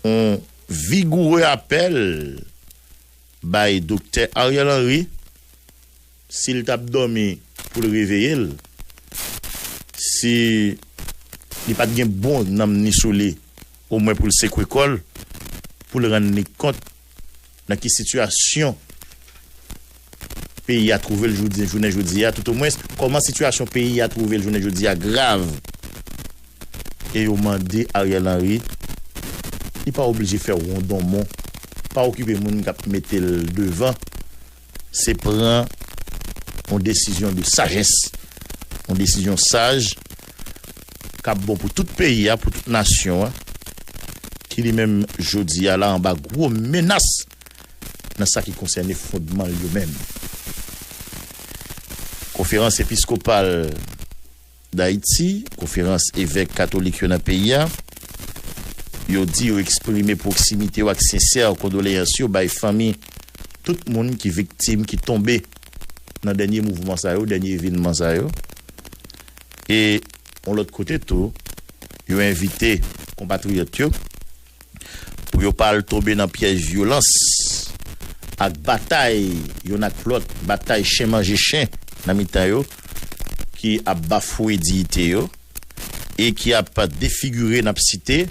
Yon vigoure apèl bay Doktè Ariel Henry, si l t ap dòmi pou l reveye l, si li pa t gen bon nanm ni sou li omwen pou l sekwe kò l, pou l rann li kont. Nan ki sitiyasyon peyi a twouve l jounen jodi a, toutomwens, kòman sitiyasyon peyi a twouve l jounen jodi a grav e yo mande Ariel Henry li pa oblije fè wondonmon, pa okipe moun k ap mete l devan. Se pran yon desizyon de sajès, yon desizyon saj k ap bon pou tout peyi a, pou tout nasyon an, ki li menm jodi a la anba gwo menas nan sa ki konsène fondman l yo menm. Konferans Episkopal. Dayiti, Konferans Evèk Katolik yo nan peyi a, yo di yo eksprime pwoksimite yo ak sensè kondoleyans yo bay fanmi tout moun ki viktim ki tonbe nan dènye mouvman sa yo, dènye evenman sa yo. E yon lòt kote tou, yo envite konpatriyòt yo, pou yo pa al tonbe nan pyèj vyolans ak batay youn ak lòt, batay chen manje chen nan mitan yo ki ap bafouwe diyite yo e ki ap defigire, n ap site,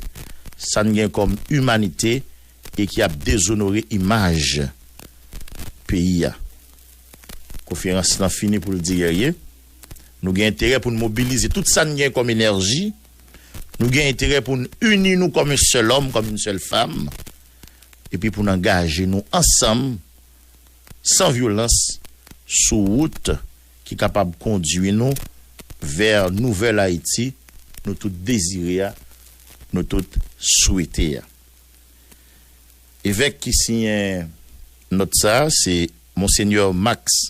sa n gen kòm imanite e ki ap dezonore imaj peyi a. Konferans lan fini pou l di, Gèrye, nou gen enterè pou n mobilize tout sa n gen kòm enèji, Nou gen enterè pou n ini nou kòm yon sèl òm, kòm yon sèl fam, epi pou n angaje nou ansanm, san vyolans, sou wout ki kapab kondui nou vè nouvèl Ayiti nou tout dezire a, nou tout swete a. Evèk ki siyen nòt sa a, se Monsenyè Max.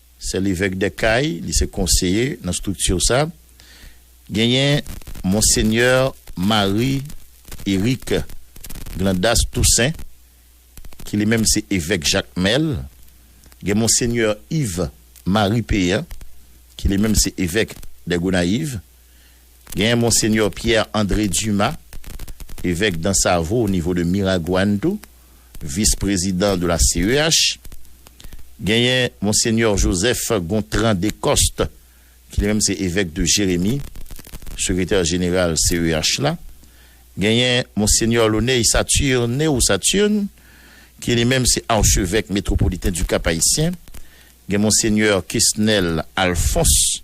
Sè Levèk dè Kay, li se konseye nan strikti sa. Genyen Monsenyè Marie Eric Glandas Toussaint, ki li menm se Evèk Jakmèl. Gen Monsenyè Yves Marie Péan, ki li menm se Evèk dè Gonayiv. Gen Monsenyè Pierre André Dumas, Evèk Dansavo o nivo de Miragwàn tou, Vis Prezidan de la CEH. Genyen Monsenyè Joseph Gontran Descostes ki li menm se Evèk de Jérémie, Sekretè Jeneral CEH la. Genyen Monsenyè Launey Saturne ou Saturne ki li menm se Archevèk Metropoliten du Cap-Haïtien. Gen Monsenyè Kesnel Alphonse.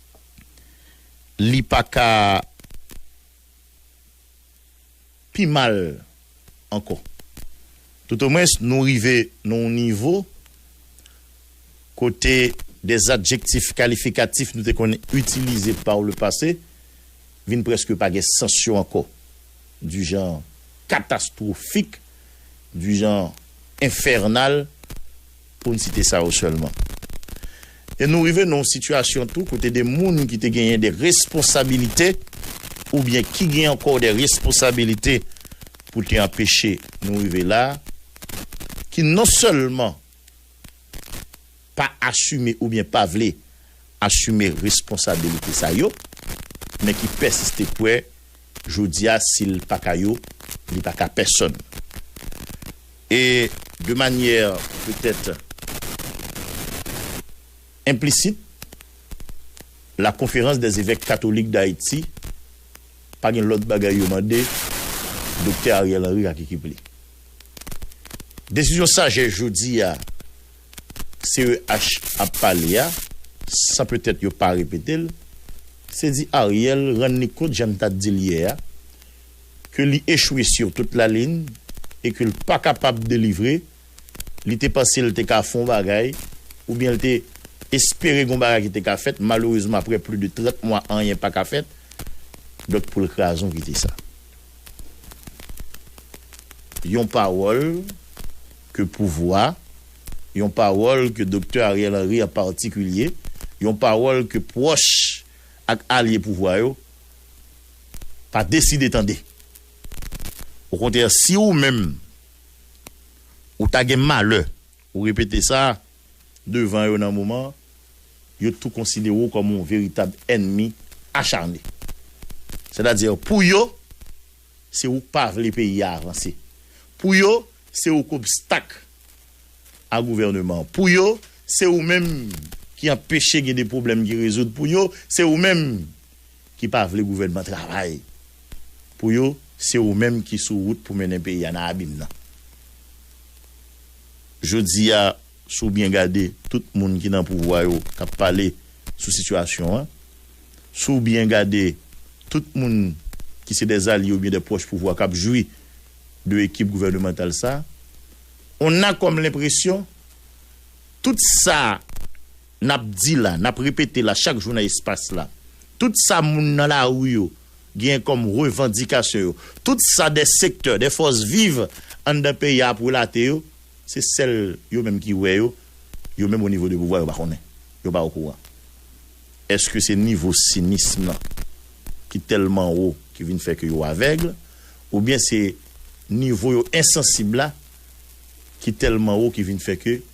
li pa ka pi mal ankò. Toutomwens nou rive nan yon nivo kote de adjektif kalifikatif nou te konn itilize par le passé vin prèske pa gen sans yo ankò, du genre catastrophique, du genre infernal. Pou n site sa yo sèlman. E nou rive nan yon sitiyasyon tou kote de moun ki te genyen de responsabilite oubyen ki gen ankò de responsabilite pou te anpeche nou rive la a, ki non sèlman pa asime oubyen pa vle asime responsabilite sa yo, men ki pèsiste kwè jodi a si l pa ka yo, li pa ka pèsonn. E de manyè petèt enplisit, La Conférence des Évèques Catholiques d'Haïti pa gen lòt bagay yo mande Doktè Ariel Henry ak ekip li. Desizyon sajès jodi a CEH ap pale a, san petèt yo pa repete l, se di Ariel rann li kont jan n ta di l yè a, ke li echwe sur tout la lin e ke l pa kapab delivre, li te panse l te ka fon bagay oubyen l te espere gon bagay ki te ka fèt, malerezman aprè pli de 30 mwa anyen pa ka fèt, donk pou l krazon kite sa. Yon pawòl ke pouvwa, yon pawòl ke Doktè Ariel Henry an patikilye, yon pawòl ke pwòch ak alye pouvwa yo, pa deside tande. Okontrè si ou menm ou ta gen malè ou repete sa devan yo nan moman an, yo tou konsidere w kòm yon veritab ènmi achane. Sètadi pou yo, se ou k pa vle peyi a avanse. Pou yo, se ou k obstak a gouvèneman an. Pou yo, se ou menm ki anpeche gen de pwoblèm ki rezoud. Pou yo, se ou menm ki pa vle gouvènman travay pou yo se ou menm ki sou wout pou mennen peyi a nan abim nan jodi a si w byen gade tout moun ki nan pouvwa yo k ap pale sou sitiyasyon an si w byen gade tout moun ki se de zalye oubyen de pwòch pouvwa k ap jwi de ekip gouvènemantal sa on a kòm lenpresyon tout sa. N ap di la, n ap repete la chak jou nan espas la, tout sa moun nan lari yo genyen kòm revandikasyon yo, tout sa de sektè, de fòs viv anndan peyi a ap relate yo, se sèl yo menm ki wè yo, yo menm onivo de pouvwa yo pa konnen, yo pa okouran. Èske se nivo sinism lan ki tèlman wo ki vin fè ke yo avèg, oubyen se nivo yo ensansib la ki tèlman wo ki vin fè ke.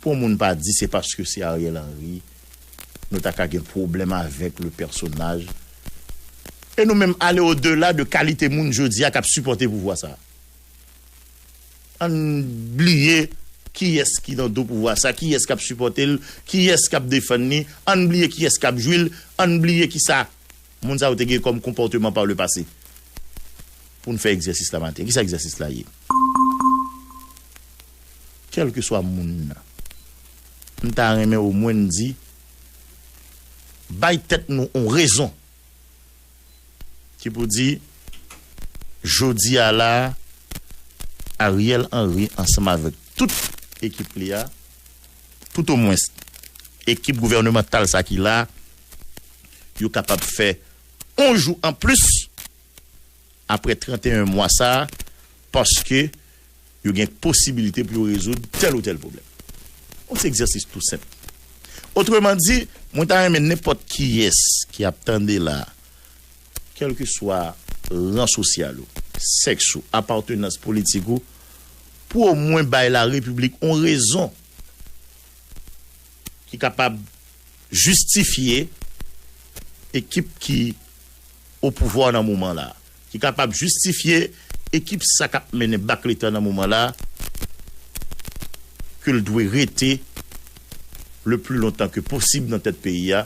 Pou moun pa di se paske se Ariel Henry nou ta ka gen pwoblèm avèk le pèsonaj e nou menm ale o dela de kalite moun jodi a k ap sipòte pouvwa sa. Ann bliye kiyès ki nan do pouvwa sa, kiyès k ap sipòte l, kiyès k ap defann li, ann bliye kiyès k ap jwi l, ann bliye kisa moun sa yo te gen kòm konpòteman pa le pase pou n fè egzèsis la maten. Kisa egzèsis la ye? kèlkeswa moun nan. M ta renmen omwen n di, bay tèt nou yon rezon ki pou di jodi a la a, Ariel Henry ansanm avèk tout ekip li a, toutomwens ekip gouvènemantal sa ki la a, yo kapab fè yon jou anplis. apre 31 mwa sa a paske yo gen posibilite pou yo rezoud tèl ou tèl pwoblèm. On ti egzèsis tou senp. Otreman di, mwen ta renmen nenpòt kiyès ki ap tande la a, kèlkeswa ran sosyal ou, sèks ou, apatenans politik ou, pou omwen bay larepiblik on rezon ki kapab jistifye ekip ki opouvwa nan moman la, ki kapab jistifye ekip sa kap mennen bak leta nan moman la ke l dwe rete le pli lontan ke posib nan tèt peyi a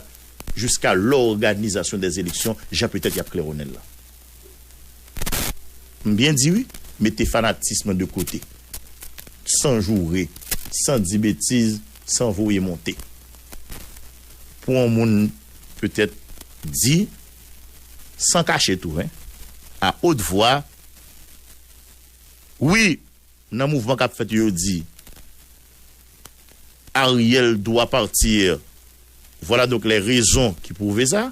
jiska lòganizasyon dè eleksyon jan petèt yap klèwonnen l la. M byen di wi, mete fanatism de kote, san joure, san di betiz. San voye monte. Pou on moun petèt di, san kache tou hein, a haute voix, Wi, nan mouvman kap fèt yo di, Ariel doit partir, voilà donc les raisons qui prouve ça.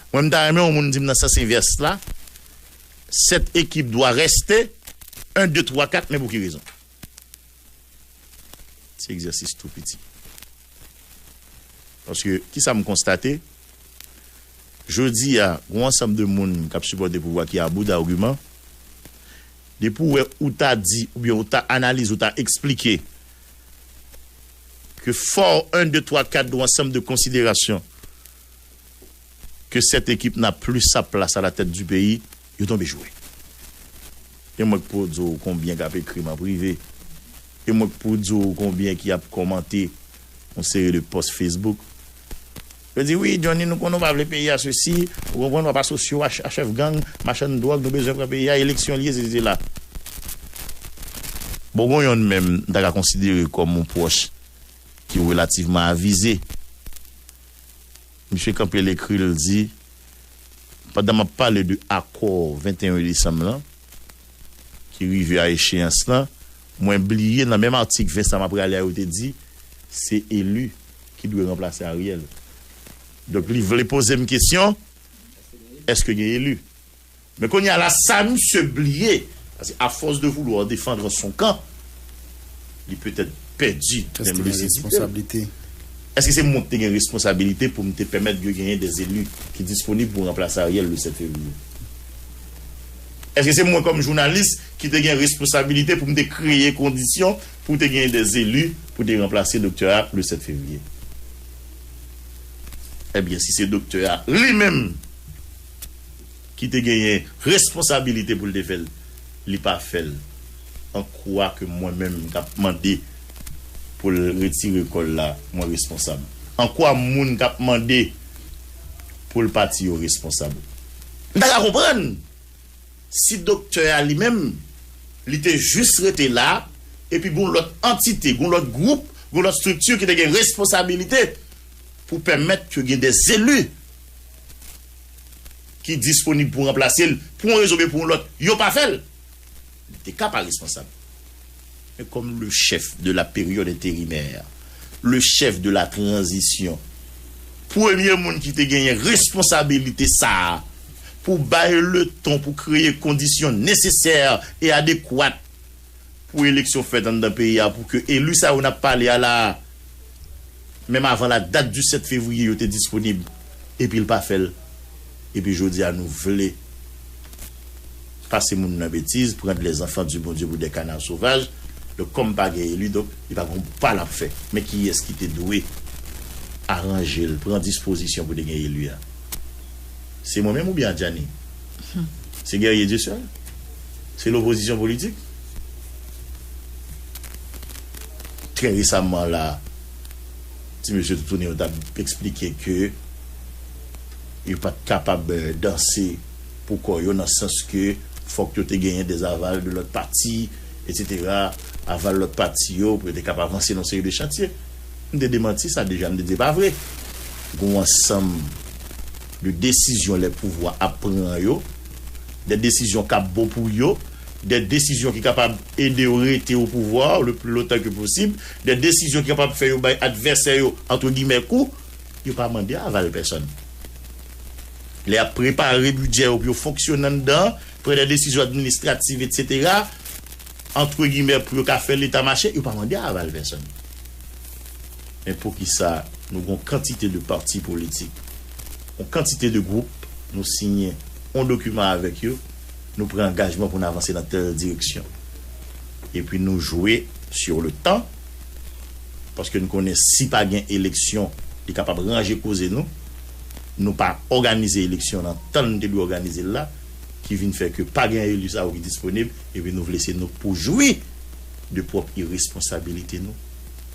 Mwen m ta renmen on moun di m nan sans envers la, cette équipe doit rester, un, deux, trois, quatre, men pou ki rezon? Ti egzèsis tou piti. Paske, kisa m konstate? Jodi a, gon ansanm de moun k ap sipòte pouvwa ki abou d'argument. Depi ou wè ou ta di oubyen ou ta analize ou ta eksplike ke fò 1, 2, 3, 4 gon ansanm de konsiderasyon ke 7 ekip nan plis sa plas a la tèt di peyi yo tonbe jwe. E mwen k pou di w konbyen k ap ekri m an prive, e mwen k pou di w konbyen ki ap kòmante yon seri de pòs Facebook. Yo di, wi Johnny nou konnen w pa vle peyi a sesi, ou konprann w ap asosye w a chèf gang, machann dwòg, nou bezwen pran peyi a, eleksyon li ye sesi sela. Bon gon yonn menm m ta ka konsidere kòm yon pwòch ki relativman avize. Misye kanpe l ekri l di, pandan m ap pale de akò 21 desanm lan, ki rive a echeyans lan, mwen bliye nan menm atik Vincent m ap rale a yo te di, se elu ki dwe ranplase Ariel. Donk li vle poze m kesyon, eske gen elu? Men kounya la sa misye bliye pase a force de vouloir defendre son camp li peut-être pèdi menm lucidite l. Eske se mwen ki te gen responsabilite pou m te pèmèt ke genyen des élus ki disponib pou ranplase Ariel le 7 fevrier? Eske se mwen kòm jounalis ki te gen responsabilite pou m te kreye kondisyon pou te genyen des élus pou te ranplase doktè a le 7 fevrier? Ebyen si se doktè a li menm! ki te genyen responsabilite pou l te fè l, li pa fè l an kwa ke mwen menm k ap mande pou l retire kò l la mwen responsab? An kwa moun k ap mande pou l pati yo responsab? M ta ka konprann si doktè a li menm li te jis rete la epi gen yon lòt antite, gen yon lòt gwoup, gen yon lòt strikti ki te gen responsabilite pou pèmèt ke gen dè zeli ki disponib pou ranplase l pou yon rezon oubyen pou yon lòt, yo pa fè l, li te ka pa responsab. Men kòm le chèf de la période intérimaire, le chèf de la transition, premye moun ki te genyen responsabilite sa a pou bay le ton, pou kreye kondisyon nesesè e adekwat, pou eleksyon fèt anndan peyi a pou ke eli sa yo n ap pale a la a, menm avan la dat di 7 fevriye yo te disponib, epi l pa fè l. Epi jodi a nou vle pase moun nan betiz, prendre les enfants du Bondye pou des canards sauvages, donk kòm pa gen eli donk li pa gon pa l ap fè. Men kiyès ki te dwe aranje l, pran dispozisyon pou te gen eli a? Se mwen menm oubyen Adjani? Se Guerrier Dieuseul? Se lopozisyon politik? Trè resamman la, ti mesye toutouni yo t ap esplike ke yo pa t kapab danse pou kò yo nan sans ke fòk yo te genyen dè aval de lòt pati etsetera, aval lòt pati yo pou yo te kab avanse nan yon seri de chantye. M te demanti sa deja, m te di se pa vre. Gen yon ansanm. De desizyon lè pouvwa ap pran yo, de desizyon k ap bon pou yo, de desizyon ki kapab ede yo rete opouvwa le pli lontan ke posib, de desizyon ki kapab fè yo bay advèsè yo antre gimè kou, yo pa mande aval pèsòn. Lè y ap prepare bidjè yo pou yo fonksyone anndan an, pran de desizyon administrativ, etsetera, antre gimè pou yo ka fè leta mache yo pa mande aval pèsòn men poukisa nou gon kantite de parti politik on kantite de gwoup nou siyen on dokiman avèk yo nou pran angajman pou n avanse nan tèl direksyon epi nou jwe sur le tan paske n konnen si pa gen eleksyon li kapab ranje koze nou nou pa òganize eleksyon nan tan n te dwe òganize l la. ki vin fè ke pa gen eli sa yo ki disponib, epi nou vle se nou k pou jwi de pwòp iresponsabilite nou?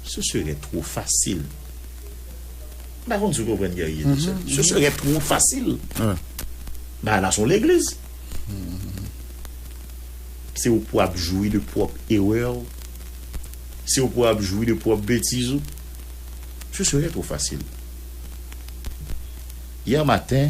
Ce serait trop facile. M pa konn si w konprann Guerrier de ce ce serait trop facile. Bagay la s on legliz. Se ou k pou ap jwi de pwòp erè w. Se ou k pou ap jwi de pwòp betiz ou. Ce serait trop facile. Hier matin,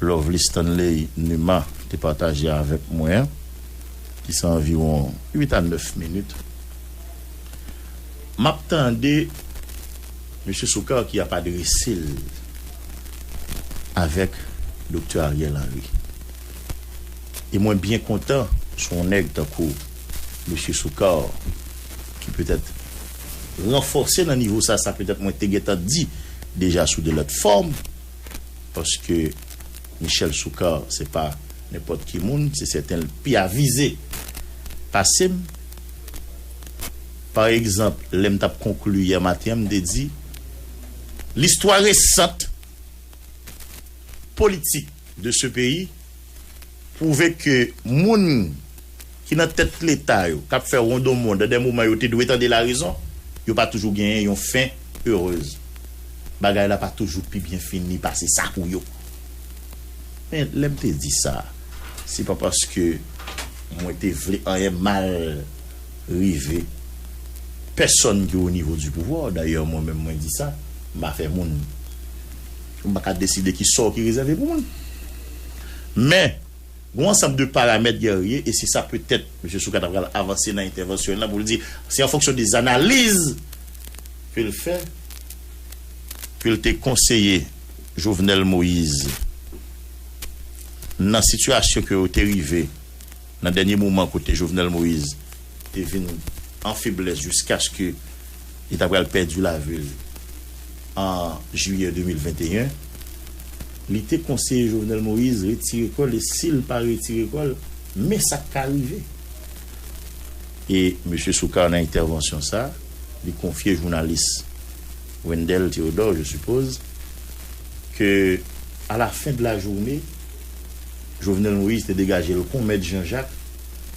Lovely Stanley Numa te pataje avèk mwen an, ki se anviwon 8 a 9 minit, m ap tande Mesye Soukar ki ap adrese l avèk Doktè Ariel Henry. E mwen byen kontan se yon nèg tankou Mesye Soukar ki petèt ranfòse nan nivo sa, sa petèt mwen te gentan di deja sou de lòt fòm, paske Michel Soukar se pa nenpòt ki moun, se sèten l pi avize pase m. Pa egzanp, lè m t ap konkli yè maten an, m te di, L'histoire récente politique de ce pays Pwouve ke moun ki nan tèt leta yo, kap fè rondonmond nan dè moman yo te dwe tande larezon, yo pa toujou genyen yon fen erez. Bagay la pa toujou pi byen fini pase sa pou yo. Men lè m te di sa, se pa paske mwen te vle anyen mal rive pèsonn ki o nivo di pouvwa, dayè mwen menm mwen di sa, m pa fè moun. Mwen pa ka deside ki sò ki rezève pou mwen. Men, gen yon ansanm de paramèt Guerrier, e se sa petèt Mesye Soukar ta pral avanse nan entèvansyon l lan pou l di, se an fonksyon de zanaliz ke l fè ke l te konseye Jovenel Moise nan sitiyasyon ke yo te rive nan dènye moman kote Jovenel Moise te vin an feblès jiskaske Li ta pral pèdi lavi l an jiyè 2021. Li te konseye Jovenel Moïse retire kò l e si l pa retire kò l, men sa k ka rive. E Mesye Soukar nan entèvansyon sa a, li konfye jounalis Wendell Theodore, je suppose, ke a la fin de la journée, Jovenel Moïse te degaje l kon Mèt Jean Jacques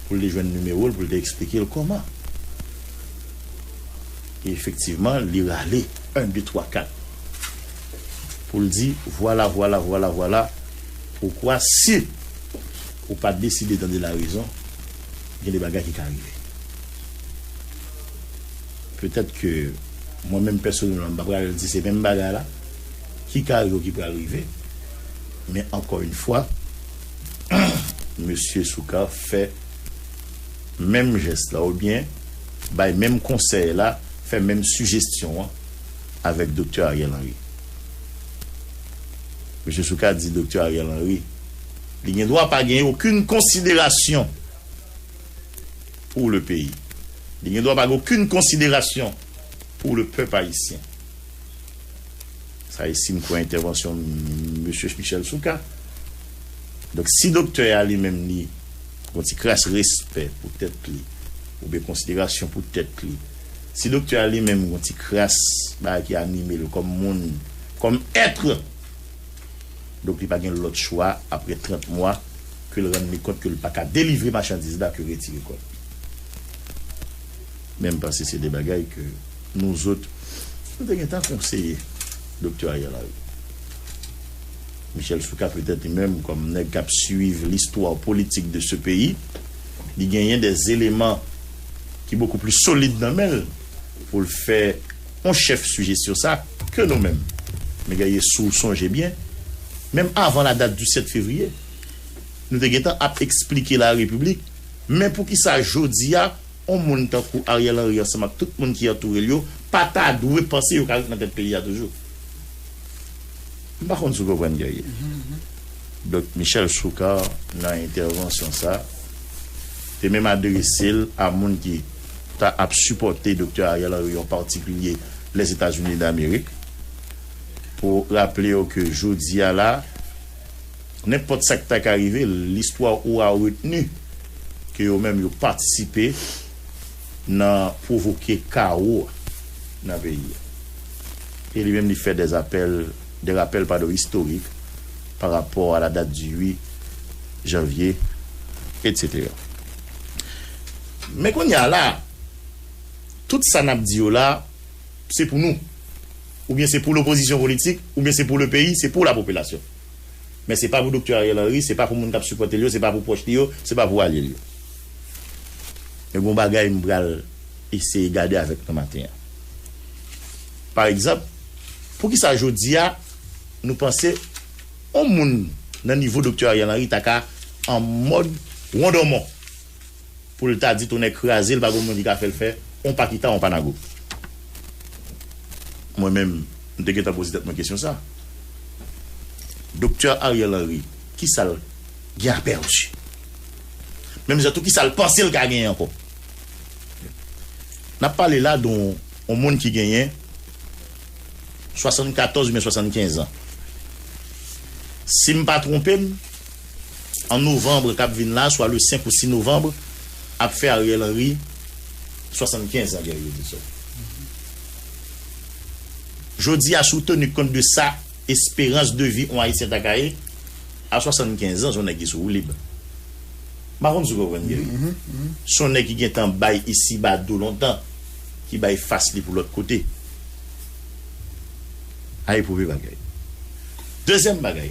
pou l te jwenn nimewo l pou l te eksplike l kòman. E efektivman, li rale, 1, 2, 3, 4, pou l di, Vwala, vwala, vwala, vwala poukwa si ou pa deside tande larezon, gen de bagay ki ka rive. Petèt ke mwen menm pèsonèlman, m pa pral di se menm bagay la ki ka rive ou ki pral rive, men ankò yn fwa, Mesye Soukar fè. menm jès la oubyen bay menm konsèy la, fè menm sijestyon an avèk Doktè Ariel Henry. Mesye Soukar di Doktè Ariel Henry li gen dwa pa gen okenn konsiderasyon pou le peyi, li gen dwa pa gen okenn konsiderasyon pou le pèp ayisyen. Sa e si n kwè entèvansyon Mesye Michel Soukar. Donk si doktè a li menm li gon ti kras respè pou tèt li oubyen konsiderasyon pou tèt li, si doktè a li menm gon ti kras bagay ki anime l kòm moun, kòm être, donk li pa gen lòt chwa aprè 30 mwa ke l rann li kont ke l pa ka delivre machandiz la ke retire kò l. Menm panse se de bagay ke nou zot nou te gentan konseye Doktè Ariel Henry. Michel Soukar petèt li menm kòm nèg kap swiv l'histoire politique de ce pays li genyen dè eleman ki bokou pli solid nan menl poul fè yon chèf sijesyon sa ke nou menm me gaye souw sonje byen menm avan la date du 7 février nou te gentan ap esplike la repiblik men poukisa jodia On moun tankou Ariel Henry ansanm ak tout moun ki antoure l yo pa ta dwe panse yo ka ret nan tèt peyi a toujou. M pa konn si w konprann Guerrier. Donk Michel Soukar nan entèvansyon sa te menm adrese l a moun ki ta ap sipòte Doktè Ariel Henry an patikilye Lèzetazini Damerik pou raple yo ke jodi a la, Nenpòt sa ki ta ka rive, listwa oura retni ke yo menm yo patisipe nan pwovoke kawo nan peyi a. E li menm li fè dè apèl, dè rapèl padon istorik pa rapò a la dat di 8 janvye etc. Men kounye a la, tout sa nap di yo la, se pou nou, oubyen se pou lopozisyon politik, oubyen se pou le peyi, se pou la popilasyon. Men se pa pou Doktè Ariel Henry, se pa pou moun kap sipòte l yo, se pa pou pwòch li yo, se pa pou alye l yo. Men gon bagay m pral eseye gade avèk nou maten an. Pa egzanp, poukisa jodi a nou panse yon moun nan nivo Doktè Ariel Henry ta ka an mòd wondonmon? poul ta di tonnè krazel pa gon moun ki ka fèl fè on pa kita on pa nago mwen menm m te gentan poze tèt mwen kesyon sa Doktè Ariel Henry kisal gen a pèdi menm jan tou kisal pansel ka genyen ankò nap pale la don on moun ki genyen 74 ubyen 75 ans sim pa tronpem. an novanbre kap vin la swa le 5 ou 6 novanbre ap fè Ariel Henry 75 an Jerry Robinson Jodi a si w tenu kont de sa esperans de vi on Ayisyen ta ka ye a 75 ans on nèg ki sou woulib m pa konn si w konprann Jerry se on nèg ki gentan bay isiba do lontan ki bay fas li pou lòt kote a epwouve bagay Dezyèm bagay.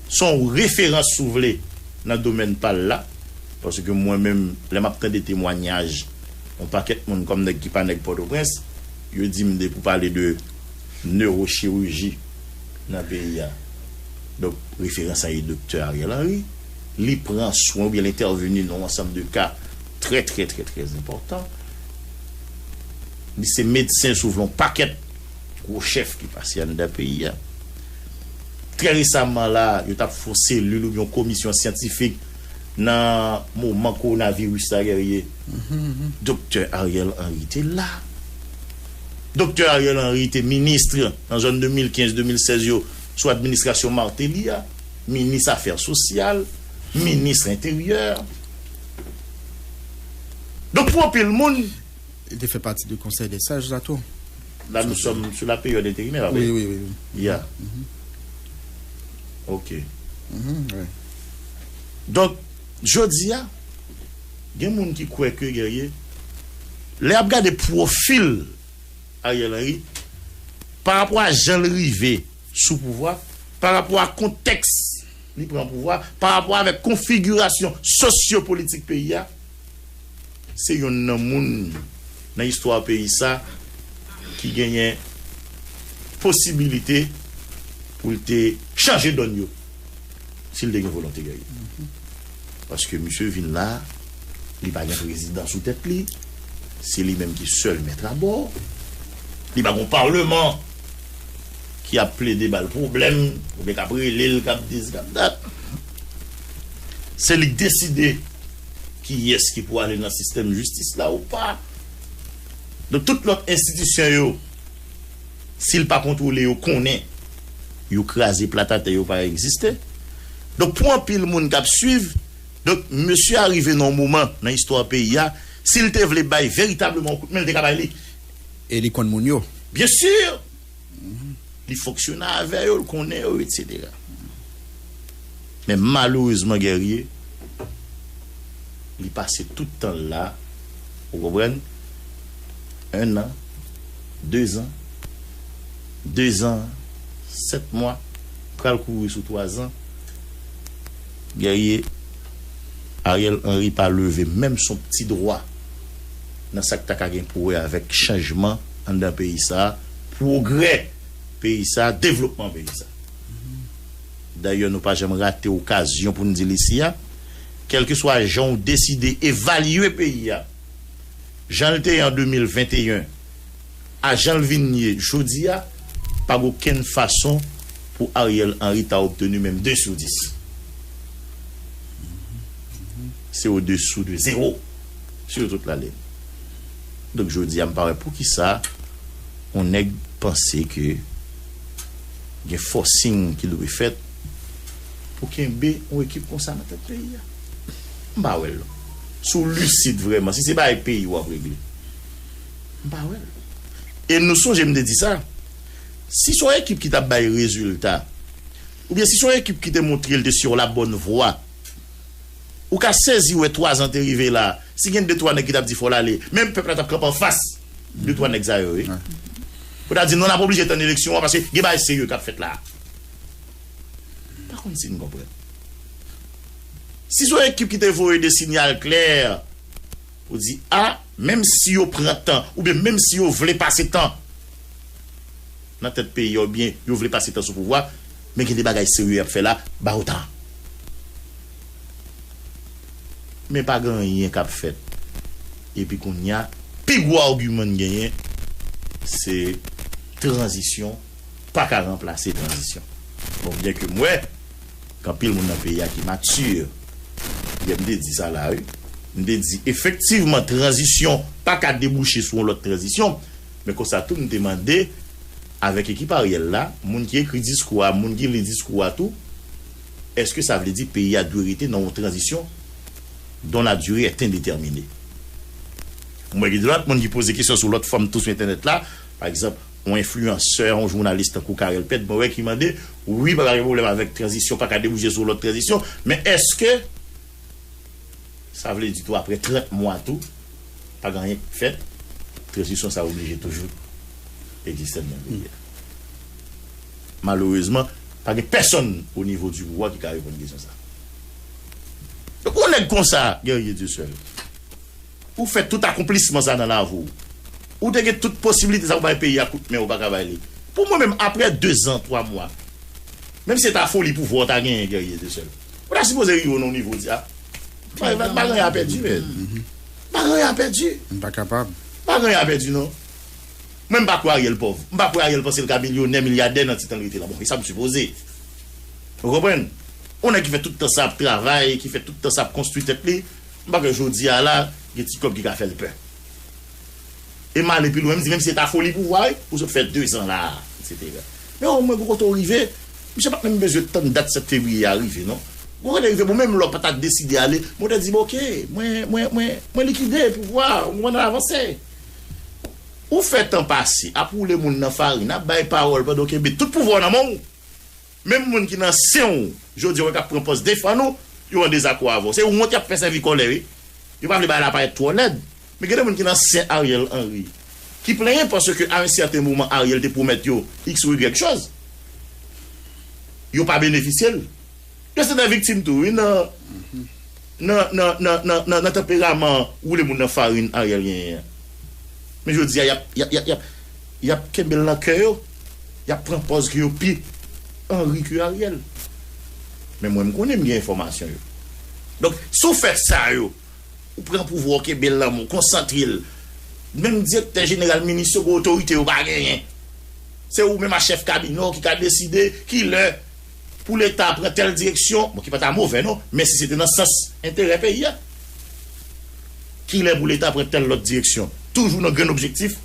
Son referans si w vle nan domèn pa l la, paske mwen menm lè m ap tande temwanyaj yon pakèt moun kòm nèg ki pa nèg Pòtoprens, yo di m depi w pale de newochiriji nan peyi a, donk referans la e Doktè Ariel Henry, li pran swen oubyen l entèveni nan yon ansanm de ka trè trè trè trè enpòtan. Li se medsen si w vle yon pakèt. gwo chèf ki pase anndan peyi a. Trè resamman la, yo t ap fè yon selil oubyen yon komisyon syantifik nan moman kowonaviris la, Guerrier. Doktè Ariel Henry te la. Doktè Ariel Henry te ministr nan zòn 2015, 2016 yo sou administrasyon Martelly a, minis afè sosyal, minis enteryè. Donk pou anpil moun. Li te fè pati de konsèy dè saj la tou. La nou sòm sou la peryòd enterimè pa vre? Wi, wi, wi. Ya. Ok. Wi. Donk, jodi a, gen moun ki kwè ke Guerrier, lè y ap gade pwofil Ariel Henry, pa rapò a jan l rive sou pouvwa, pa rapò a kontèks li pran pouvwa, pa rapò avèk konfigirasyon sosyopolitik peyi a, Se yonn nan moun nan istwa peyi sa ki genyen posibilite pou l te chanje donn yo si l te gen volonte gè yo. Paske misye vin la, li pa gen prezidan sou tèt li, se li menm ki sèl mèt abò, li pa gon palman ki ap plede ba l pwoblèm oubyen k ap rele l k ap dizi k ap dat. Se li k deside. kiyès ki pou ale nan sistèm jistis la ou pa. Donk tout lòt enstitisyon yo, si l pa kontwole yo konnen yo kraze plat atè yo pa egziste. Donk pou anpil moun k ap suiv, donk mesye a rive nan yon moman nan istwa peyi a, si l te vle bay veritableman yon kout men l te ka bay li. E li konn moun yo. Byen sur! Li fonksyone avè yo, l konnen yo, etsetera. Men malerezman Guerrier, li pase tout tan l la, ou konprann, ennan, dezan, dezan, sèt mwa, pral kouri sou twazan, Guerrier, Ariel Henry pa leve menm son pti dwa. nan sa k ta ka gen pou wè avèk chanjman anndan peyi sa a, pwogrè peyi sa a, devlopman peyi sa a. Dayè nou pa janm rate okazyon pou n di l isi a, kèlkeswa jan ou deside evalye peyi a, jan l te ye an 2021, A jan l vin ye jodi a, pa gen okenn fason pou Ariel Henry ta obtenu menm 2 sou 10. Se o dessous de zero sur toute la ligne. Donk jodi a m pa wè poukisa on nèg panse ke gen forcing ki dwe fèt pou kenbe on ekip konsa nan tèt peyi a. M pa wè l non. Si w lucide vrèman, si se bagay peyi w ap regle. M pa wè l. E nou sonje m te di sa, si se yon ekip ki t ap bay rezilta, oubyen si se yon ekip ki te montre l te sou la bòn vwa, ou ka sezi wè twazan te rive la, si gen de twa nèg ki t ap di fò l ale, men pèp la t ap kanpe anfas de twa nèg sa yo wi, pou ta di non n ap oblije tann eleksyon an paske gen bagay serye k ap fèt la a. M pa konn si n konprann. Si se yon ekip ki te voye de sinyal klè. Ou di a, menm si yo pran tan oubyen menm si yo vle pase tan nan tèt peyi a oubyen yo vle pase tan sou pouvwa men gen de bagay serye y ap fè la, ba yo tan. Men pa gen anyen k ap fèt. Epi kounye a, pi gwo agiman n genyen se tranzisyon pa ka ranplase tranzisyon. Bon, byenke m wè. Gen anpil moun nan peyi a ki mature. Yè m te di sa la wi. M te di efektivman tranzisyon pa ka debouche sou yon lòt tranzisyon. Men konsa tou m te mande avèk ekip Ariel la, moun ki ekri diskou a, moun ki li diskou a tou, èske sa vle di peyi a dwe rete nan yon tranzisyon dont la durée est indéterminée? M wè gen lòt moun ki poze kesyon sou lòt fòm tou sou entènèt la. Pa egzanp. Yon enfliyansè, yon jounalis tankou Carel Pèt mwen wè ki mande, wi paka gen pwoblèm avèk tranzisyon paka debouje sou yon lòt tranzisyon, men èske sa vle di tou aprè 30 mwa tou pa gen anyen k p fèt, tranzisyon sa oblije toujou egziste nan peyi a? Malerezman pa gen pèsonn o nivo di pouvwa ki ka reponn kesyon sa. Donk yon nèg konsa, Guerrier Dieuseul. Ou fè tout akonplisman sa nan lavi w. Ou te gen tout posibilite sa pou bay peyi a kout men ou pa ka bay li. Pou mwen menm aprè 2 zan 3 mwa menm si se ta foli pouvwa ou ta genyen Guerrier te sèl ou ta sipoze rive nan yon nivo di a bagay a pèdi men bagay a pèdi m pa kapab bagay a pèdi non mwen m pa kwè Ariel pòv m pa kwè Ariel panse l ka milyonè milyadè nan ti tan l rete la bon e sa m sipoze ou konprann yon nèg ki fè tout tan sa ap travay ki fè tout tan sa ap konstwi tèt li. M pa kwè jodi a la gen ti kòb ki ka fè l pè. E m ale pi lwen m di menm si se ta foli pouvwa wi, ou sot fè dezan la a, eksetera. Men omwen gen kote w rive. Misye pa t menm bezwen tann dat 7 fevriye a rive non. Gen kote l rive bon menm lè w pa ta deside ale, men w ta di bon ok, mwen, mwen, mwen, mwen likide pouvwa a, ou konprann n al avanse. Ou fè tan pase ap woule moun nan farin, ap bay pawòl pandan w kenbe tout pouvwa w nan men w. Menm moun ki nan sen w jodi a ou wè kap pran pòz defann ou, yo an dezakò avè w. Se wont yap fè sèvi kòlè wi. Yo pa vle bagay la parèt twò lèd. Men gen de moun ki nan sen Ariel Henry ki plenyen paske a un certain moment Ariel te pwomèt yo x ou y choz. Yo pa benefisye l. Yo se de viktim tou wi nan. Nan nan nan nan nan nan tanperaman woule moun nan farin Ariel genyen an. Men jodi a y ap y ap y ap y ap y ap kenbe l nan kè yo, y ap pran pòz ke yo pi Henry ke Ariel. Men mwen m konnen m gen enfòmasyon yo. Donk si w fè sa yo, ou pran pouvwa ou kenbe l nan men w, konsantre l. Menm direktè jeneral, minis yo gen otorite yo pa genyen. Se ou menm ak chèf kabinè w ki ka deside ki lè. Pou leta pran tèl direksyon, bon ki pa ta movè non, men si se te nan sans enterè peyi a. Kilè pou leta pran tèl lòt direksyon? Toujou nan grenn objektif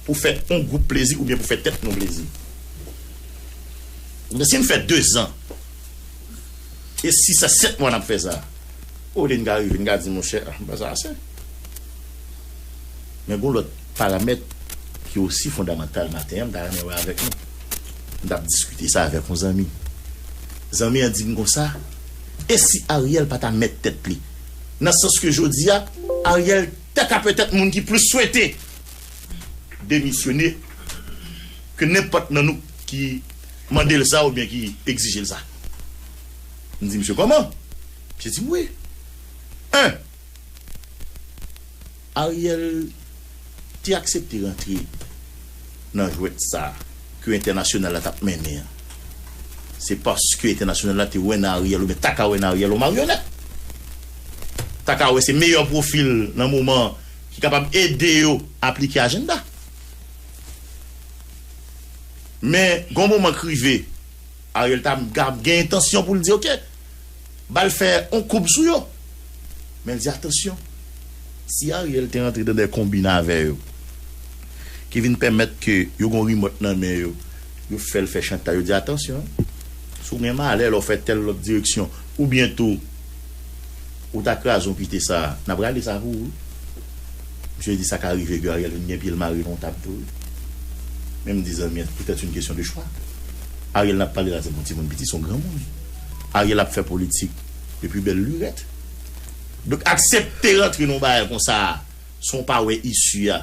pou fè yon gwoup plezi oubyen pou fè tèt nou plezi. Kounye a si n fè dezan e sis a sèt mwa n ap fè sa, olye n ka rive n ka di monchè ah ba sa ase. Men gen yon lòt paramèt ki osi fondamantal maten an m ta renmen wè avèk nou. M t ap diskite sa avèk yon zanmi. Zanmi an di m konsa, E si Ariel pa ta mèt tèt li? Nan sans ke jodi a, Ariel ta ka petèt moun ki plis swete demisyone ke nenpòt nan nou ki mande l sa oubyen ki egzije l sa. M di misye, Kòman? Misye di m, Wi. 1. Ariel te aksepte rantre nan jwèt sa ke entènasyonal la t ap mennen an. Se paske entènasyonal la te wè nan Ariel oubyen ta ka wè nan Ariel yon maryonèt. Ta ka wè se meyè pwofil nan moman an ki kapab ede yo aplike ajennda. Men gen yon moman k rive. Ariel ta ap gen entansyon pou l di ok, ba l fè yon koub sou yo. Men l di atansyon, si Ariel te rantre nan de konbin avè yo, ki vin pèmèt ke yo gen yon rimòt nan men yo, yo fè l fè chantaj, yo di atansyon, si w gen malè lè w fè tèl lòt direksyon, oubyen tou, Ou ta kraze yon pite sa a. Nap rale sa pou ou wi. Misye di sa ka rive ke Ariel vin gen pye l mare nan yon tab tou wi. Men m di zanmi an, pou tèt yn kesyon de chwa. Ariel nap pale la se pa yon timoun piti, se yon granmoun. Ariel ap fè politik depi bèl lurèt. Donk aksepte rantre nan yon bagay konsa a san w pa wè isi a,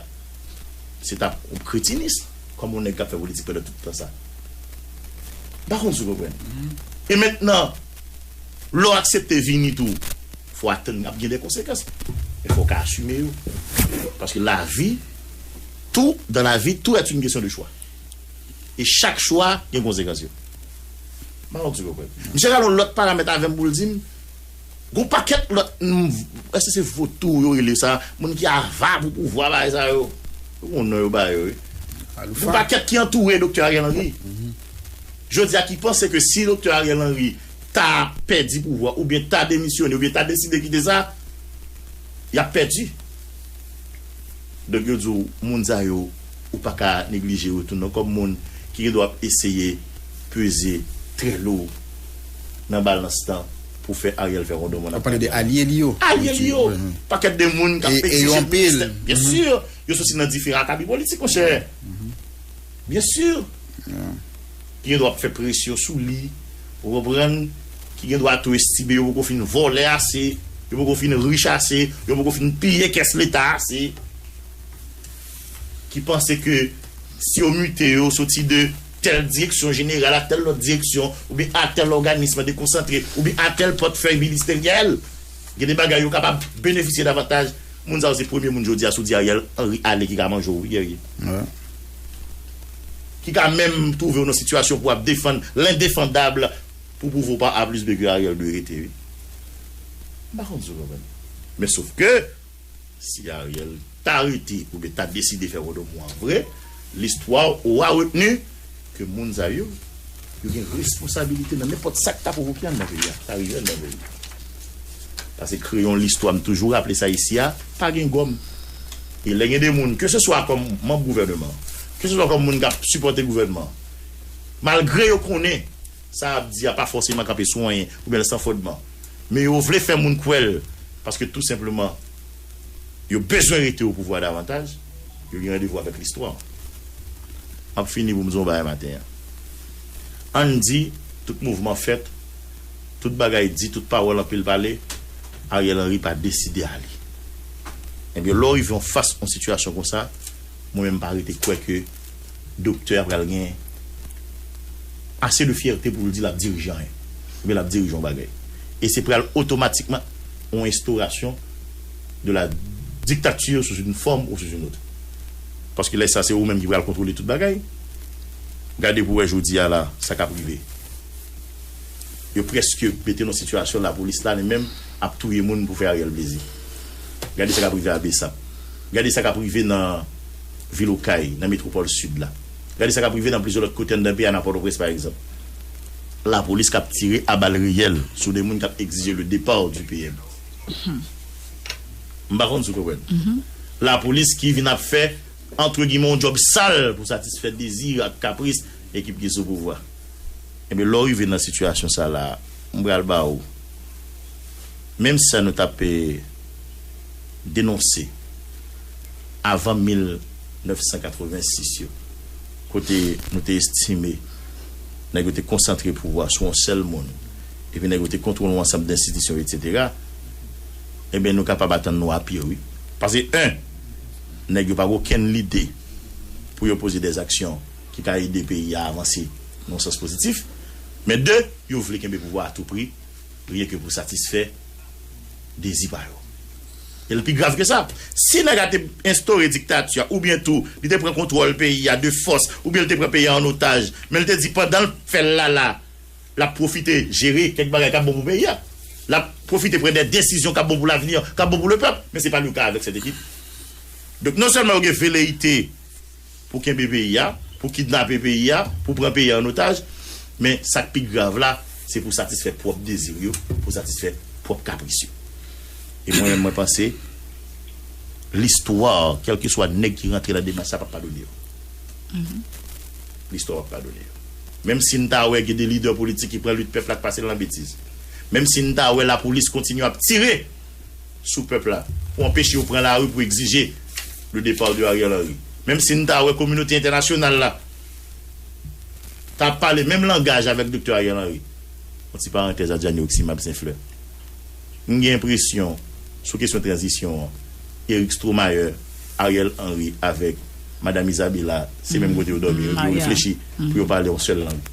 se ta yon kretinism kòm yon nèg kap fè politik pandan tout tan sa. M pa konn si w konprann. E mentnan. Lè'w aksepte vini tou, fò atann ap gen de konsekans, men fò'w ka asime yo. Paske lavi, tout dans la vie, tout est une question de choix. E chak chwa gen konsekans yo. M'pa konn si'w konprann. Misye gade yon lòt paramèt avè'm pou'l di'm, gon pakèt lòt moun, èske se votou yo rele sa, moun ki ava pou pouvwa bagay sa yo. Ou gon non yo ba yo wi. Gon pakèt ki antoure Doktè Ariel Henry. jodi a ki panse ke si Doktè Ariel Henry ta pèdi pouvwa oubyen ta demisyone oubyen ta deside kite sa, y ap pèdi. Donk yo di w moun sa yo ou pa ka neglije yo tou non kòm moun ki gen dwa ap eseye peze trè lou nan balans lan pou fè Ariel fè wondon mò nan pale de alye li yo. Alye li yo! Pakèt de moun k ap egzije ministè. Byen sur! Yo soti nan diferan akabi politik monchè. Byen sur! Ki gen dwa ap fè presyon sou li, ou konprann, ki gen dwa tou estime yo poko fin vòlè ase, yo poko fin rich ase, yo poko fin piye kès leta ase, ki panse ke si yo mite yo soti de tèl direksyon jeneral a tèl lòt direksyon oubyen a tèl òganism dekonsantre oubyen a tèl pòtfèy ministeryèl, gen de bagay yo kapab benefisye davantaj, moun sa yo se premye moun jodi a si w di Ariel Henry ale ki ka manje w wi Guerrier. ki ka menm twouve w nan sitiyasyon pou ap defann lendefandab pou pwouve w pa A plis B ke Ariel dwe rete wi. M pa konn si w konprann. Men sof ke si Ariel ta rete oubyen ta deside fè Wodomou an vre, listwa ora retni ke moun sa yo Yo gen responsabilite nan nenpòt sa k ta pwovoke anndan peyi a, k ta rive anndan peyi a. Pase kreyon listwa, m toujou raple sa isi a, pa gen gòm. E lè gen de moun, ke se swa kòm manb gouvèneman, ke se swa kòm moun k ap sipòte gouvènman an, malgre yo konnen sa y ap di a pa fòseman kanpe sou anyen oubyen l san fondman, men yo vle fè moun kwè l paske tou senpleman, yo bezwen rete opouvwa davantaj, yo gen randevou avèk listwa. M ap fini pou m di w yon bagay maten an. Ann di, tout mouvman fèt, tout bagay di, tout pawòl anpil pale, Ariel Henry pa deside ale. Ebyen, lè w rive yon fas yon sitiyasyon konsa, mwen menm m pa rete kwè ke Doktè a pral gen ase de fyète pou l di l ap dirije anyen oubyen l ap dirije yon bagay. E se pral otomatikman yon estorasyon de la dictature sous une forme ou sous une autre. Paske lè sa se ou menm ki pral kontwole tout bagay. Gade pou wè jodi a la sa k ap rive. Yo prèske mete n yon sitiyasyon lapolis la li menm ap touye moun pou fè Ariel plezi. Gade sa k ap rive a Bsap. Gade sa k ap rive nan. vil Okay, nan metwopòl Sid la. Gade sa k ap rive nan plizyè lòt kote anndan peyi a, nan Pòtoprens pa egzanp. Lapolis k ap tire a bal reyèl sou 2 moun k ap egzije le départ du PM. M pa konn si w konprann. Lapolis ki vin ap fè, antre gimè, yon djòb sal pou satisfè dezi ak kapris ekip ki sou pouvwa. Enben, lè w rive nan sitiyasyon sa la a, m pral ba w menm sa nou t ap. denonse avan 1986 yo, kote nou te estime nèg yo te konsantre pouvwa sou yon sèl moun, epi nèg yo te kontwole yon ansanm denstitisyon, etsetera, enben nou kapab atann nou a pire wi. Pase 1. Nèg yo pa gen okenn lide pou yo poze dè zaksyon ki ka ede peyi a avanse nan yon sans pozitif, men 2. Yo vle kenbe pouvwa a tou pri. Priye ke pou satisfè dezi pa yo. E l pi grav ke sa, si nèg a te enstore diktati a oubyen tou li te pran kontwòl peyi a de fòs oubyen li te pran peyi a an otaj men li te di pandan l fè l la la l ap pwofite jere kèk bagay k ap bon pou peyi a, l ap pwofite pran dè desizyon k ap bon pou lavni an, k ap bon pou lepèp men se pa leka avèk sèt ekip. Donk non sèlman yo gen veleyite. pou kenbe peyi a, pou kidnape peyi a, pou pran peyi a an otaj, men sa k pi grav la, se pou satisfè pwòp dezi w yo, pou satisfè pwòp kapris yo. E mwen menm mwen panse, listwa, kèlkeswa nèg ki rantre nan demach sa a pap padone yo. Listwa pap padone yo. Menm si n ta wè gen de lidè politik ki pran lit pèp la k pase l nan betiz. Menm si n ta wè lapolis kontinye ap tire! sou pèp la pou anpeche yo pran lari pou egzije le départ de Ariel Henry. Menm si n ta wè kominote entènasyonal la ta pale menm langaj avèk Doktè Ariel Henry. Yon ti parantèz Adjani Oximab St-Fleur. M gen enpresyon sou kesyon tranzisyon an, Eric Stromayer, Ariel Henry avèk Madam Izabela se menm kote yo dòmi, yo reflechi pou yo pale yon sèl lang.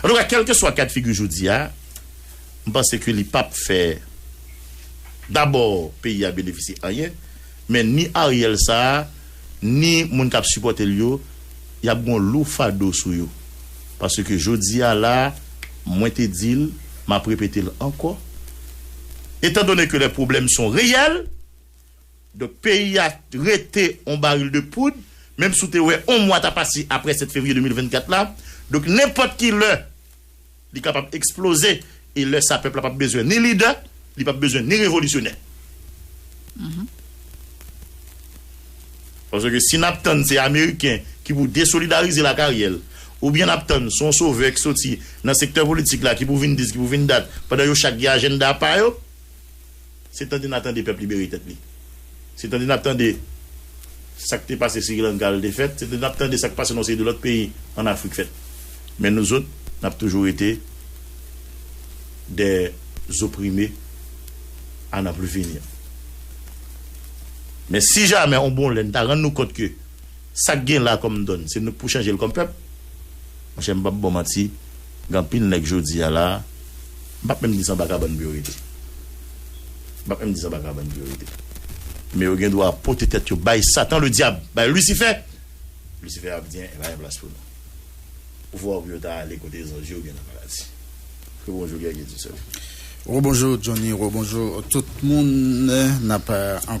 An tou ka kelkeswa ka de figi jodi a, m panse ke li pap fè dabò peyi a benefisye anyen, men ni Ariel sa a, ni moun kap sipòte l yo, yap gen yon lou fado sou yo. Paske jodi a la, mwen te di l, map repete l ankò, etan done ke lè pwoblèm son reyèl, Donk peyi a rete on baril de poud, menm si w te wè on mwa ta pase aprè 7 fevriye 2024 la. Donk nenpòt ki lè li kapab eksploze e lè sa pèp la pap bezwen ni lidè, li pap bezwen ni revolisyonè. Paske si n ap tann se ameriken ki pou desolidarize l ak Ariel, oubyen n ap tann son sovè ki soti nan sektè politik la ki pou vin dis, ki pou vin dat, pandan yo chak gen ajennda pa yo. Se tande na tande pèp libere tèt li. Se tande nap tande sak te pase Sri Lanka al te fèt. Se tande nap tande sak pase nan yon seri de lòt peyi an Afrik fèt. Men nou zot nap toujou rete des opprime a nan plus finir. Men si jamè yon bon lè nou ta rann nou kont ke sak gen la kòm donn se nou k pou chanjel kòm pèp, monchè m pap baw manti, Gen anpil nèg jodi a la, m pap menm di se anba kabann pou yo rete. M pap menm di se anba kabann pou yo rete. Men yo gen dwa pote tèt yo bay Satan Ledyab, bay Lisifè. Lisifè ap di, e pa gen plas pou nou. Ou fè wè pou yo ta ale kote zanj yo oubyen nan paradi. Rebonjou Guerrier Dieusèl. Rebonjou Johnny, rebonjou tout moun. N ap.